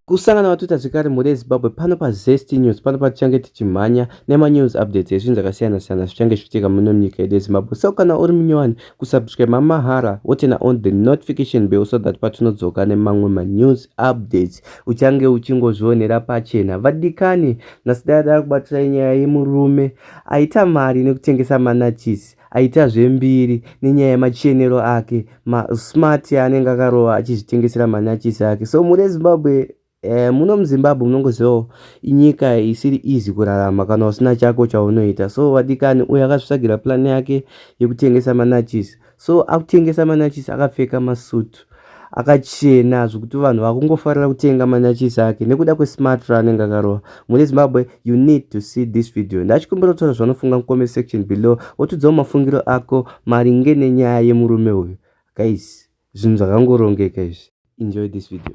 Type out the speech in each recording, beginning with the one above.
kusangana vatuta zvekare mhuri yezimbabwe pano pazest news pano patichange tichimhanya nemanews updates ezvinhu zvakasiyana siyana zvichange zvichiitika muno munyika yedu yezimbabwe so kana uri munyowani kusubscribe mamahara wotena on the notification bell so that patinodzoka nemamwe manews updates uchange uchingozvionera pachena vadikani nhasi dai dava kubatisai nyaya yemurume Aita mari nekutengesa manachisi, aita zvembiri nenyaya yemachenero ake, ma smart yaanenge akarova achizvitengesera manachisi ake. So mune Zimbabwe eh, muno muzimbabwe munongozivawo inyika isiri easy kurarama kana usina chako chaunoita so vadikani uyo akazvitsvagira plan yake yekutengesa manachisi so akutengesa manachisi akapfeka masuit akachena zvekuti vanhu vakungofarira kutenga manachisi ake nekuda kwesmart raanenge akarova mune zimbabwe you need to see this video ndachikumbira kutaura zvanofunga mucomment section below wotudzawo mafungiro ako maringe nenyaya yemurume uyu guys zvinhu zvakangorongeka izvi enjoy this video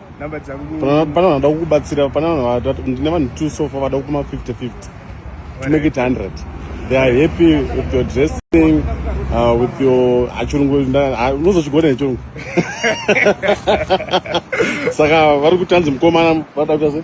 pane vanhu vada kukubatsira pane vanhu ndine vanhu two sofa vada kukuma 50 50 to make it 100 they are happy with your dressing uh, with your achirungu ah, unozochigona nechirungu saka vari kutanzi mukomana vada kuita sei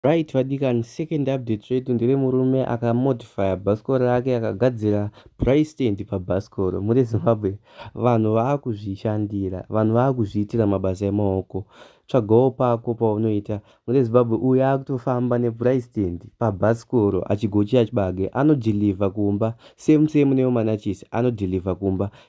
Right vadikani second update redu ndere murume aka modifyer bhasikoro rake akagadzira dry stand pabhasikoro muri Zimbabwe vanhu vaakuzvishandira vanhu vaakuzviitira mabasa emaoko tsvagawo pako paunoita muri Zimbabwe uyu akutofamba nedry stand pabhasikoro achigochira chibage anodeliver kumba same same nemumanachisi anodeliver kumba